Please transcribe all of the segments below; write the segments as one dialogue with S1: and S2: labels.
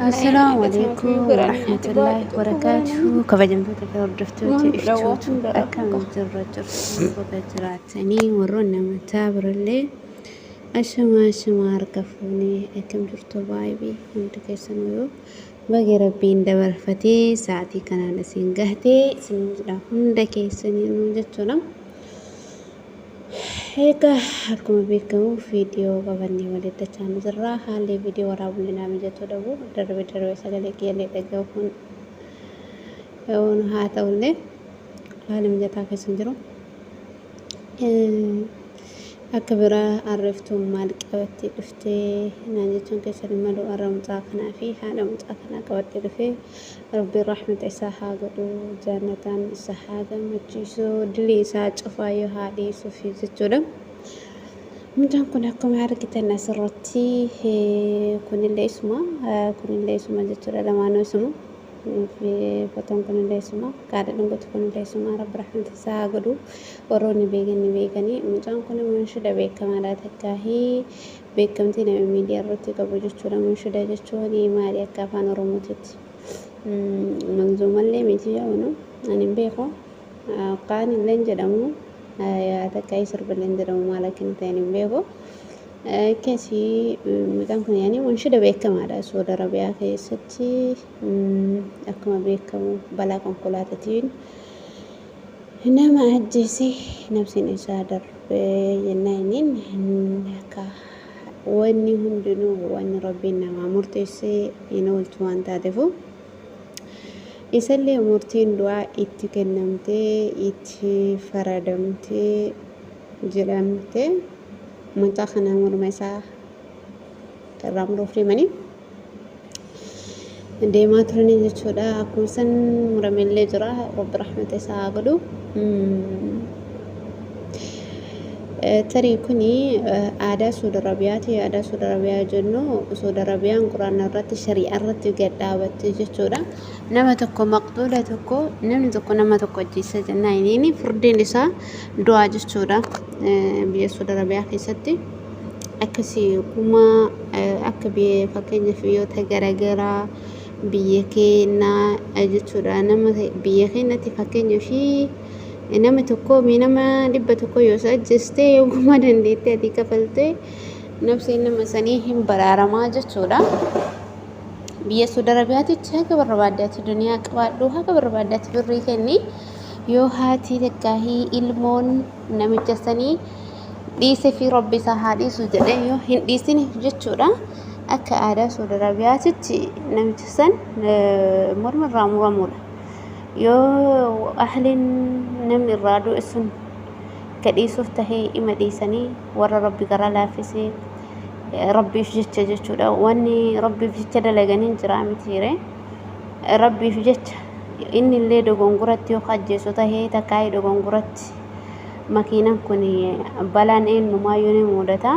S1: Assalaamu alaikum warahmatullahi wabarakatuh kabajamtoota fi hordoftoota iftuutu akkam jirra jirtu baga jiraatanii warroonni amantaa birallee ashamaa ashamaa harka fuunee akkam jirtu baay'ee hundi keessan yoo baga rabbiin dabarfatee sa'aatii kanaan isin gahtee isin hunda keessanii jechuudha. Egaa akkuma beekamu viidiyoo qabannee walitti dachaanu jirra. Haalli viidiyoo waraabullee naa mijatuu dhabu. Darbe darbe sagalee kiyyallee dhagahuun haa ta'ullee haala mijataa keessa hin jiru. Akka biraa arreeftuun maal qabattee dhuftee naan jechuun keessatti malu warra mucaa kanaa fi haadha mucaa kanaa qabattee dhufee Rabbiin rahmata isaa haa godhu jaannataan isa haa gammachiisu dilii isaa cufaayyuu haa dhiisuuf jechuudha. Mucaan kun akkuma argitan asirratti kunillee isuma kunillee isuma jechuudha lamaanuu isuma fotoon kunillee isuma qaadha dhungutu kunillee isuma rabbi rahmata isaa haa godhu warroonni beekan ni beekanii mucaan kun maanshida beekamaadha takkaahii Beekkamtii nami miidiyaa irratti qabu jechuudha. Munshuda jechuun maali akka afaan Oromootitti? Manzuumallee miti yaa'unu ani hin beeku. Kaan illee jedhamu takka sirbillee jedhamu maal akka inni ta'e hin beeku. Keessi midhaan kun yaani munshuda beekamaadha. Saudi Arabiyaa keessatti akkuma beekamu balaa konkolaataatiin Nama ajjeese nabsiin isaa darbe jennaaniin akka wanni hundinuu wanni rabbiin namaa murteessee hin ooltu waan taatefu isallee murtiin du'aa itti kennamtee itti faradamtee jedhamte mucaa kana morma isaa irraa muruuf deemanii deemaa turanii jechuudha akkuma san muramellee jira rabbi rahmata isaa haa godhu tarii kun aadaa suud arabiyaati aadaa suud arabiyaa jennu suud arabiyaan quraana irratti shari'aa irratti gad dhaabatte jechuudha nama tokko maqduula tokko namni tokko nama tokko ajjeessa jennaan inni furdiin isaa du'aa jechuudha biyya suud arabiyaa keessatti akkasii kuma akka biyya fakkeenyaaf biyyoota garaagaraa biyya keenya jechuudha. Nama biyya keenyatti fakkeenya ishii nama tokko nama dhibba tokko yoo isa ajjeestee yoo kuma dandeettee ati kafaltee nafseen nama sanii hin baraaramaa jechuudha. Biyya Suudi Arabiyaatitti haga barbaadde ati duniyaa qabaadhu haga barbaadde ati birrii kenni yoo haati takkaa ilmoon namicha sanii dhiise fi rabbi isaa haa dhiisu jedhee yoo hin dhiisiniif jechuudha akka aadaa Saudi Arabiyaatitti namicha san morma irraa muramuudha. Yoo ahliin namni irraa du'e sun ka dhiisuuf tahee ima dhiisanii warra rabbi garaa laaffisee rabbiif jecha jechuudha. Wanni rabbiif jecha dalaganii jiraa mitiiree. rabbiif jecha inni illee dogongoratti yoo ka ajjeesu tahee takkaayii dogongoratti makiinan kun balaan eenyumaayyuu ni mudata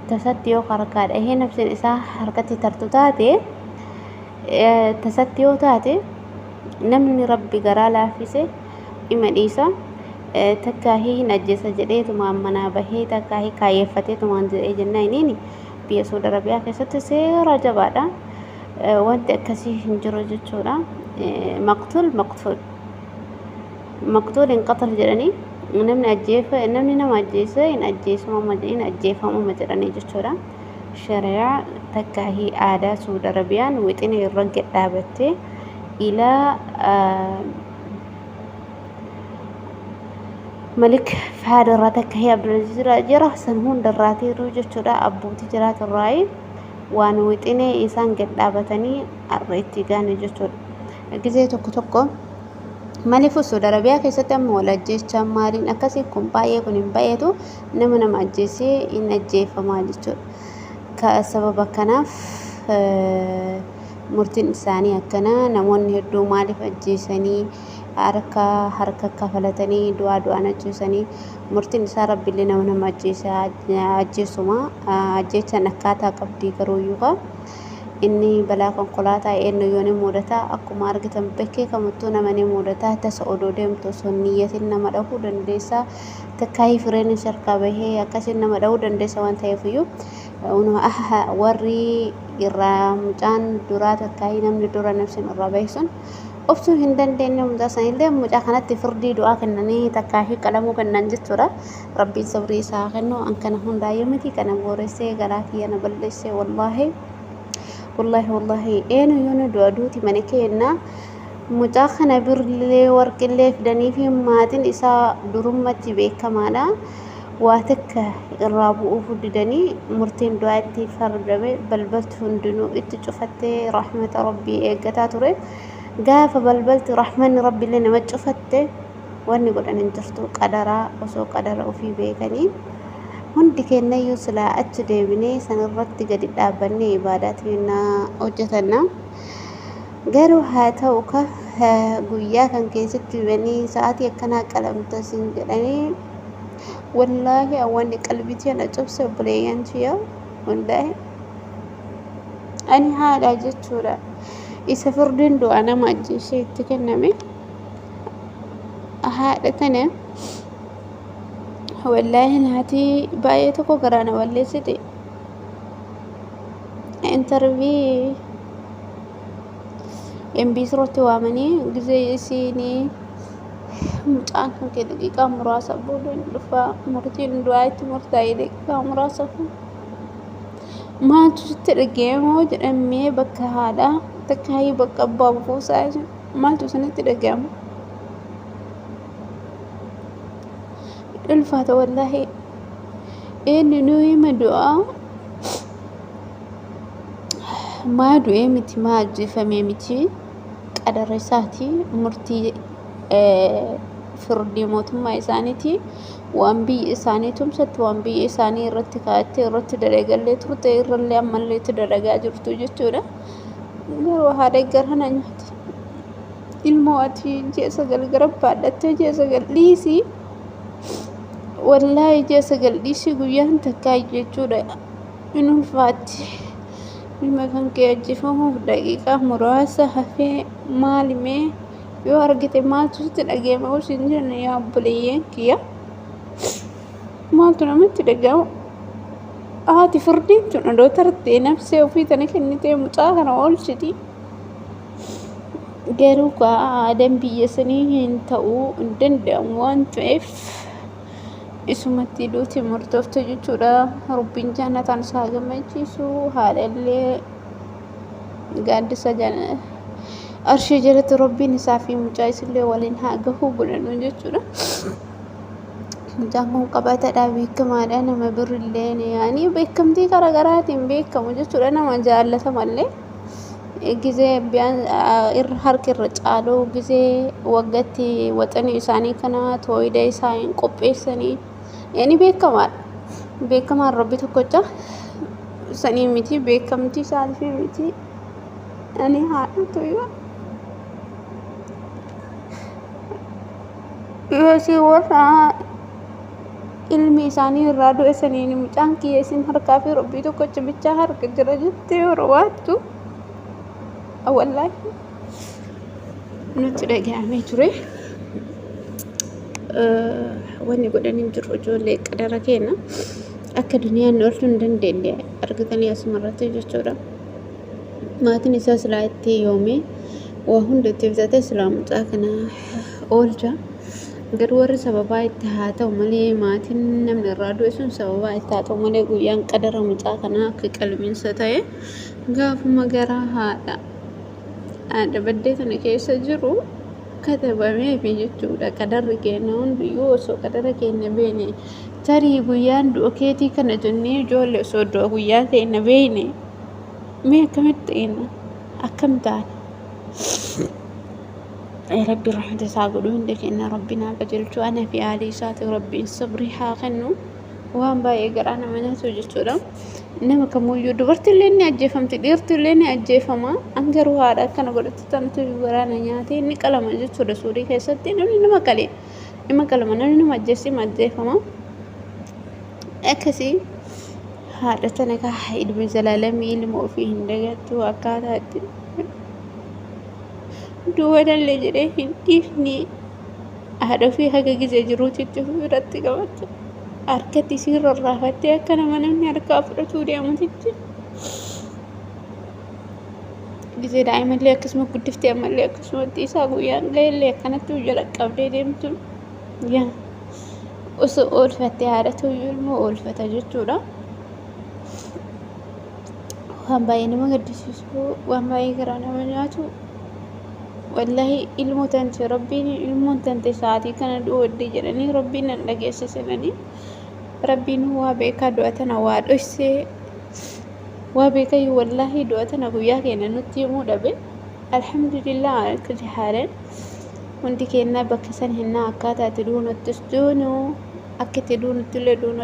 S1: tasatti yoo ka harkaa dhahee nafsin isaa harkatti tartu taate tasatti yoo taate namni rabbi garaa laaffise ima dhiisa takkaahii hin ajjeesa jedhee tumaan manaa bahee takkaahii kaayeffatee tumaan jedhee jennaa iniini biyya Saudi Arabiyaa keessatti seera jabaadha. Wanti akkasii hin jiru jechuudha. Maqtuul maqtuul. Maqtuul hin qatal jedhanii namni ajjeefa namni nama ajjeese hin ajjeesuma hin ajjeefamuma jedhanii jechuudha. Shari'aa takkaa fi aadaa Suud Arabiyaan wixinee irra gad dhaabattee ilaa Malik Fahaad irraa takka fi Abdulaziz irraa jira san hunda irraa tiiruu jechuudha abbootii jiraatirraa. waan wixinee isaan gad dhaabatanii arra itti gaane jechuudha. Gizee tokko tokko maliifuu Saudi Arabiyaa keessatti amma wal ajjeechaa maaliin akkasii kun baay'ee kun hin baay'eetu nama nama ajjeesee hin ajjeefamaa jechuudha. Ka sababa kanaaf murtiin isaanii akkana namoonni hedduu maaliif ajjeesanii harka harka kafalatanii du'aa du'aan ajjeesanii Murtiin isaa Rabbillee nama nama ajjeese haa ajjeesuma. Ajjeechaan akkaataa qabdii garuuyyuu kaa. Inni balaa konkolaataa eennuyyuu ni muudata. Akkuma argitan bakkee kamittuu nama ni muudata. Tasa odoo deemtu osoo hin niyyatin nama dhahuu dandeessa. Takkaayii fireen isa harkaa bahee akkasiin nama dhahuu dandeessa waan ta'eefiyyuu. Warri irraa mucaan duraa takkaayii namni dura nafsin irraa bahe sun obsuu hin dandeenye mucaa sanillee mucaa kanatti firdii du'aa kennanii takkaa fi qalamuu kennan jechuudha. Rabbiin sabrii isaa haa kennu an kana hundaayyuu miti kana booressee garaa kiyya na balleessee wallaahi wallaahi wallaahi eenuyyuu nu du'a duuti mana keenna mucaa kana birrillee warqillee fidanii fi maatiin isaa durummatti beekamaadha. Waa takka irraa bu'uuf didanii murtiin du'aa itti fardame balbalti hundinuu itti cufattee rahmata rabbii eeggataa ture. Gaafa balbaltu rahmanni rabbillee nama cufatte wanni godhan hin jirtu qadaraa osoo qadara ofii beekanii hundi keennayyuu silaa achi deebinee sanirratti gadi dhaabbannee ibaadaa teennaa hojjetanna garuu haa ta'u ka guyyaa kan keessatti banii sa'aatii akkanaa qalamta siin jedhanii wallaahi awwanni qalbitii ana cubse obboleeyyan tiyya wallaahi ani haadha jechuudha isa firdiin du'aa nama ajjeesee itti kenname haadha tana wallaahi haati baay'ee tokko garaa na balleessite intarvii MBC irratti waamanii gizee isiinii mucaan kan kee daqiiqaa muraasa booda hin dhufaa murtiin du'aa itti murtaa'e daqiiqaa muraasa kun Maaltu sitti dhaga'ame hoo jedhan mee bakka haadhaa takkaayii bakka abbaa buusaa jedhan. Maaltu isinitti dhaga'ama? Ulfaata wallaahi. Inni nuu hima du'aa maa du'ee miti maa ajjeefamee miti qadara isaati murtii firdii mootummaa isaaniiti. Waan biyyi isaanii tumsatte, waan biyya isaanii irratti kaa'attee irratti dalagallee turte irrallee ammallee itti dalagaa jirtu jechuudha. Garuu haa deeggaran nyaata. Ilmoo ati ji'a sagal gara baadhattee ji'a sagal dhiisii wallaahi ji'a sagal dhiisii guyyaan takkaa jechuudha in ulfaatti. Ilma kan kee ajjeefamuuf daqiiqaa muraasa hafee maalimee yoo argite maaltu sitti dhaga'ama yoo siin jenne yaa obboleeyyeen kiyya maaltu namatti dhaga'ama haati furdiin tun odoo tartee nafsee ofii tana kennitee mucaa kana oolchiti garuu kaa aadaan biyya sanii hin ta'uu hin danda'amu waan ta'eef isumatti duuti murtoofte jechuudha rabbiin jaannataan isaa gammachiisu haadhallee gaaddisa arshii jalatti rabbiin isaa fi mucaa isillee waliin haa gahuu godhanu jechuudha. Mucaan kun qabatadha beekamaadha nama birrillee yaanii beekamtii garaagaraatiin beekamu jechuudha nama jaallatamallee. Gizee irra harki irra caaluu gizee waggatti waxanii isaanii kana tooyida isaanii qopheessanii Inni beekamaadha. Beekamaan Rabbi tokkocha sanii miti beekamtii isaaniif miti. Ani haadha tuyyoo. Yoo isin warra ilmi isaanii irraa du'e saniin mucaan kiyya isin harkaa fi Rabbii tokkocha bichaa harka jira jettee warra waattu. Wallaahi. nutti dhaga'amee ture. Wanni godhan hin jiru ijoollee qadara keenya akka duniyaan nu oolchuu hin dandeenye argatanii asuma irratti jechuudha. Maatiin isaa silaa itti yoomee waa hunda itti bitatee silaa mucaa kana oolcha. Garuu warri sababaa itti haa ta'u malee maatiin namni irraa du'e sun sababaa itti haa ta'u malee guyyaan qadara mucaa kanaa akka qalmiinsa ta'e gaafuma garaa haadha. dhaadhabaddee tana keessa jiru katabameefi jechuudha qadarri keenya hundiyyuu osoo qadara keenya beene tarii guyyaan du'a keetii kana jennee ijoollee osoo du'a guyyaa keenya beene mee akkamitti eenna akkam taana rabbi rahmata isaa godhu hunda keenya rabbi naa qajeelchu ana fi aalii isaati rabbiin sabrii haa kennu waan baay'ee garaa nama nyaatu jechuudha. nama kamuyyuu dubartillee ni ajjeefamti dhiirtillee ni ajjeefama an garuu haadha akkana godhatti tantu waraana nyaatee ni qalama jechuudha suudii keessatti namni nama qalee nama qalama namni nama ajjeessi ni ajjeefama akkasii haadha tana kaa ilmi zalaalamii ilma ofii hin dagattu akkaataatti duwwadallee jedhee hin dhiifne haadhofii haga gizee jiruu cicciruu irratti qabatte harkatti isiin rarraafattee akka nama namni harkaa fudhatuu deemutitti gizee daa'imallee akkasuma guddiftee ammallee akkasumatti isaa guyyaan ga'ellee akkanatti hojja dhaqqabdee deemtu yaa osoo oolfattee haadhatu iyyuu ilmoo oolfata jechuudha. Waan baay'ee nama gaddisiisu waan baay'ee garaa nama nyaatu wallahi ilmo tante rabbiin ilmoon tante sa'aatii kana du'odde jedhanii rabbiin nan dhageesse senanii rabbiin waa beekaa du'a tana waa dhoysee waa beekayyuu wallahi du'a tana guyyaa keenya nutti himuu dhabe alhamdulillah kulli haalan hundi keennaa bakka san hennaa akkaataa itti duunuttis duunu akka itti duunutti illee duunu